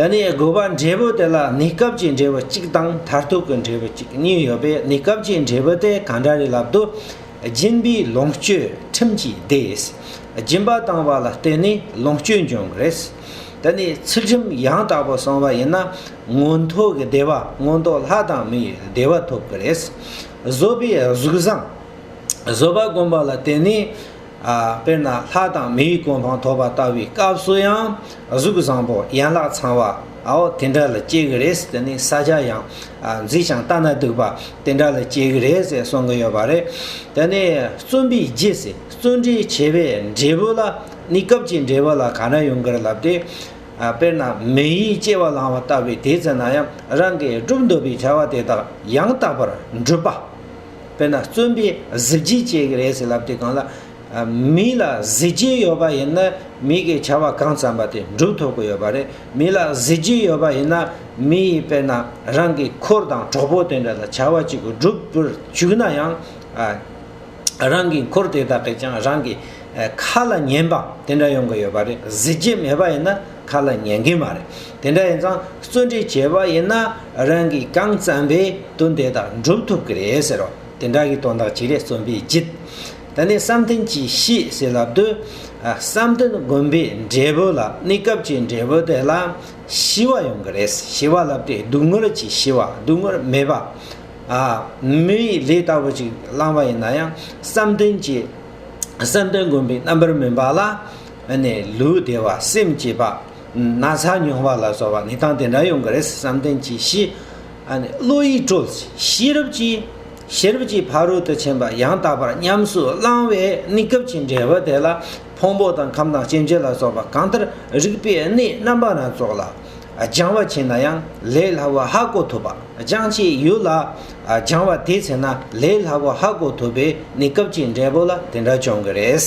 ད་ནི་དགོས་པ་འབྲས་བུ་དེ་ལ་གནས་སྐབས་ཀྱི་འབྲས་བུ་གཅིག་དང་མཐར་ཐུག་གི་འབྲས་བུ་གཅིག་གཉིས་ཡོད་པས་གནས་སྐབས་ཀྱི་འབྲས་བུ་དེ་གང་འདྲ་རེད་ལབ་དུ། སྦྱིན་པའི་ལོངས་སྤྱོད་ཁྲིམས་ཀྱིས་བདེས། སྦྱིན་པ་བཏང་བ་ལ་བརྟེན་ནས་ལོངས་སྤྱོད་འབྱུང་གི་རེད། ད་ནི་ཚུལ་ཁྲིམས་ཡང་དག་པོ་སྲུང་བ་ཡིན་ན་མངོན་མཐོ་གི་བདེ་བ་མངོན་མཐོ་ལྷ་དང་མིའི་བདེ་བ་ཐོབ་གི་རེད། བཟོད་པའི་གཟུགས་བཟང། བཟོད་པ་བསྒོམ་པ་ལ་བརྟེན་ནས་དཔེར་ན་ལྷ་དང་མིའི་གོ་འཕང་ཐོབ་པ་ལྟ་བུའི་སྐབས་སུ་ཡང་གཟུགས་བཟང་པོ་ཡན་ལག་ཚང་བ་འོ་དེ་འདྲ་ལ་སྐྱེ་གི་རེད་དེ་ནི་ས་ཆ་ཡང་རྫིག་ཞིང་ལྟ་ན་སྡུག་པ་དེ་འདྲ་ལ་སྐྱེ་གི་རེད་ཟེར་གསུང་གི་ཡོད་པ་རེད། དེ་ནི་བརྩོན་པའི་རྗེས་སུ་བརྩོན་འགྲུས་ཆེ་བའི་འབྲས་བུ་ལ་ནི་སྐབས་ཀྱི་འབྲས་བུ་ལ་ག་འདྲ་ཡོང་གིར་ལབ་སྟེ། དཔེར་ན་མི་ཡིས་སྐྱེ་བ་བླངས་བ་ལྟ་བུའི་དུས་ཚོད་ན་ཡང་རང་གིས་བསྒྲུབ་འདོད་པའི་བྱ་བ་དེ་དག་ཡང་དག་པར་འགྲུབ་པ། དཔེར་ན་བརྩོན་པས་གཟི་བརྗིད་བསྐྱེད་ཀྱི་རེད་ཟེར་ལབ་དེ་གང་ལ། མི་ལ་གཟི་བརྗིད་ཡོད་པ་ཡིན་ན་མི་གིས་བྱ་བ་གང་བརྩམས་པ་དེ་འགྲུབ་ཐུབ་ཀྱི་ཡོད་པ་རེད། མི་ལ་གཟི་བརྗིད་ཡོད་པ་ཡིན་ན་མི་ཡིས་དཔེར་ན་རང་གི་འཁོར་དང་གྲོགས་པོ་དེ་འདྲ་ལ་བྱ་བ་གཅིག་བསྒྲུབ་པར་བཅུག་ན་ཡང། རང་གི་འཁོར་དེ་དག་གིས་ཀྱང་རང་གི་ཁ་ལ་ཉན་པ་དེ་འདྲ་ཡོང་གི་ཡོད་པ་རེད། གཟི་བརྗིད་མེད་པ་ཡིན་ན། ཁ་ལ་ཉན་གི་མ་རེད། དེ་འདྲ་ཡིན་ཙང་བརྩོན་འགྲུས་བྱས་པ་ཡིན་ན་རང་གིས་གང་བརྩམས་པའི་དོན་དེ་དག་འགྲུབ་ཐུབ་ཀྱི་རེད་ཟེར་རོ། དེ་འདྲ་གི་དོན་དག་ཅིག་རེད་བརྩོན་པའི་རྒྱུད། ད་ནི་བསམ་གཏན་གྱིས་ཤེས་ཟེར་ལབ་དུས། བསམ་གཏན་དགོན་པའི་འབྲས་བུ་ལ་གནས་སྐབས་ཀྱི་འབྲས་བུ་དེ་ལ་ཤི་བ་ཡོང་གི་རེད། ཤི་བ་ལབ་དུས་སྡུག་བསྔལ་གྱིས་ཤི་བ་སྡུག་བསྔལ་མེད་པ། མི་ཡི་ལས་ལྟ་བུ་ཅིག་བླངས་པ་ཡིན་ན་ཡང་བསམ་གཏན་གྱི་བསམ་གཏན་དགོན་པའི་རྣམ་པར་སྨིན་པ་ལ། ནས་ལུས་བདེ་བ་སེམས་སྐྱིད་པ། ན་ཚ་མྱོང་བ་ལ་སོགས་པ་ནད་དང་དེ་འདྲ་ཡོང་གི་རེད་བསམ་གཏན་གྱིས་ཤི། བློ་ཡིས་དཀྲོལ། ཤེས་རབ་ཀྱིས། ཤེས་རབ་ཀྱིས་ཕ་རོལ་ཏུ་ཕྱིན་པ་ཡང་དག་པར་ཉམས་སུ་བླང་བས་གནས་སྐབས་ཀྱི་འབྲས་བུ་དེ་ལ་ཕུང་པོ་དང་ཁམས་དང་སྐྱེ་མཆེད་ལ་སོགས་པ་གང་ལྟར་རིགས་པའི་གནས་རྣམ་པ་སྣ་ཚོགས་ལ་སྦྱང་བ་བྱས་ན་ཡང་ལས་སླ་བོ་ཧ་གོ་ཐུབ་པ་སྦྱང་བྱའི་ཡུལ་ལ་སྦྱང་བ་དེས་ཚེ་ན་ལས་སླ་བོ་ཧ་གོ་ཐུབ་པས་གནས་སྐབས་ཀྱི་འབྲས་བུ་ལ་དེ་འདྲ་བྱུང་གི་རེད།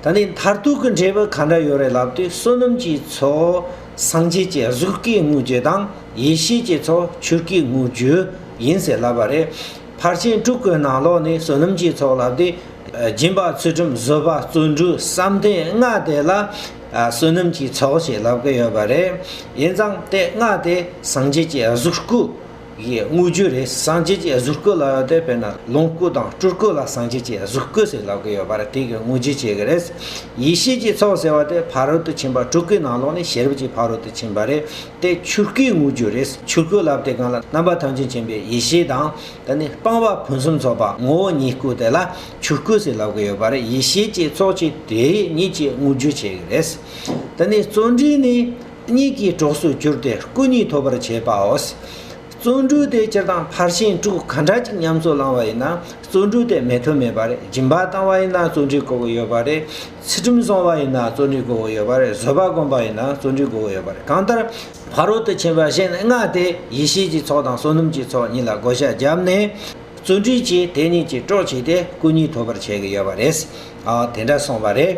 ད་ནི་མཐར་ཐུག་གི་འབྲས་བུ་གང་འདྲ་ཡོད་རེད་ལབ་དུས་བསོད་ནམས་ཀྱི་ཚོགས་སངས་རྒྱས་ཀྱི་གཟུགས་ཀྱི་དངོས་རྒྱུ་དང་ཡེ་ཤེས་ཀྱི་ཚོགས་ཆོས་ཀྱི་དངོས་རྒྱུ་ཡིན་ཟེར་ལབ་པ་རེད། ཕར་ཕྱིན་དྲུག་གི་ནང་ལོགས་ནས་བསོད་ནམས་ཀྱི་ཚོགས་ལབ་དུས་སྦྱིན་པ་ཚུལ་ཁྲིམས་བཟོད་པ་བརྩོན་འགྲུས་བསམ་གཏན་ལྔ་དེ་ལ་བསོད་ནམས་ཀྱི་ཚོགས་ཞེས་ལབ་ཀྱི་ཡོད་པ་རེད། ཡིན་ཙང་དེ་ལྔ་དེ་སངས་རྒྱས་ཀྱི་གཟུགས་སྐུ་ཡིས་དངོས་བརྗོད་རེད་སངས་རྒྱས་ཀྱི་གཟུགས་སྐུ་ལ་དེ་དཔེར་ན་ལོངས་སྐུ་དང་སྤྲུལ་སྐུ་ལ་སངས་རྒྱས་ཀྱི་གཟུགས་སྐུ་ཟེར་ལབ་གི་ཡོད་པ་རེད་དེ་གི་དངོས་བརྗོད་བྱེད་གི་རེད། ཡེ་ཤེས་ཀྱི་ཚོགས་ཟེར་བ་དེ་ཕ་རོལ་ཏུ་ཕྱིན་པ་སྤྲུལ་སྐུའི་ནང་ལོགས་ནས་ཤེས་རབ་ཀྱི་ཕ་རོལ་ཏུ་ཕྱིན་པ་རེད་དེ་ཆོས་སྐུའི་དངོས་བརྗོད་རེད་ཆོས་སྐུ་ལབ་དེ་གང་ལ་རྣམ་པ་ཐམས་ཅད་མཁྱེན་པའི་ཡེ་ཤེས་དང་དེ་ནས་སྤངས་པ་ཕུན་སུམ་ཚོགས་པ་ངོ་བོ་ཉིད་སྐུ་དེ་ལ་ཆོས་སྐུ་ཟེར་ལབ་གི་ཡོད་པ་རེད་ཡེ་ཤེས་ཀྱི་ཚོགས་ཀྱི་དེ་ཉིད་ཀྱི་དངོས་བརྗོད་བྱེད་གི་རེད། དེ་ནས་བརྩོན་འགྲུས་ནི། གཉིས་ཀྱི་གྲོགས་སུ་གྱུར་ཏེ་སྐུ་གཉིས་ཐོབ་པར་བྱས་པའོ། བརྩོན་འགྲུས་དེ་སྤྱིར་བཏང་ཕར་ཕྱིན་དྲུག་ག་འདྲ་ཅིག་ཉམས་སུ་བླང་བ་ཡིན་ན་བརྩོན་འགྲུས་དེ་མེད་དུ་མེད་པ་རེད་སྦྱིན་པ་བཏང་བ་ཡིན་ན་བརྩོན་འགྲུས་དགོས་པ་ཡོད་པ་རེད་ཚུལ་ཁྲིམས་བསྲུང་བ་ཡིན་ན་བརྩོན་འགྲུས་དགོས་པ་ཡོད་པ་རེད་བཟོད་པ་བསྒོམ་པ་ཡིན་ན་བརྩོན་འགྲུས་དགོས་པ་ཡོད་པ་རེད་གང་ལྟར་ཕ་རོལ་ཏུ་ཕྱིན་པ་གཞན་ལྔ་དེ་ཡེ་ཤེས་ཀྱི་ཚོགས་དང་བསོད་ནམས་ཀྱི་ཚོགས་གཉིས་ལ་བགོ་བཤའ་བརྒྱབ་ནས་བརྩོན་འགྲུས་ཀྱིས་དེ་གཉིས་ཀྱི་གྲོགས་བྱས་ཏེ་སྐུ་གཉིས་ཐོབ་པར་བྱས་ཀྱི་ཡོད་པ་རེད། དེ་འདྲ་སོང་བ་རེད།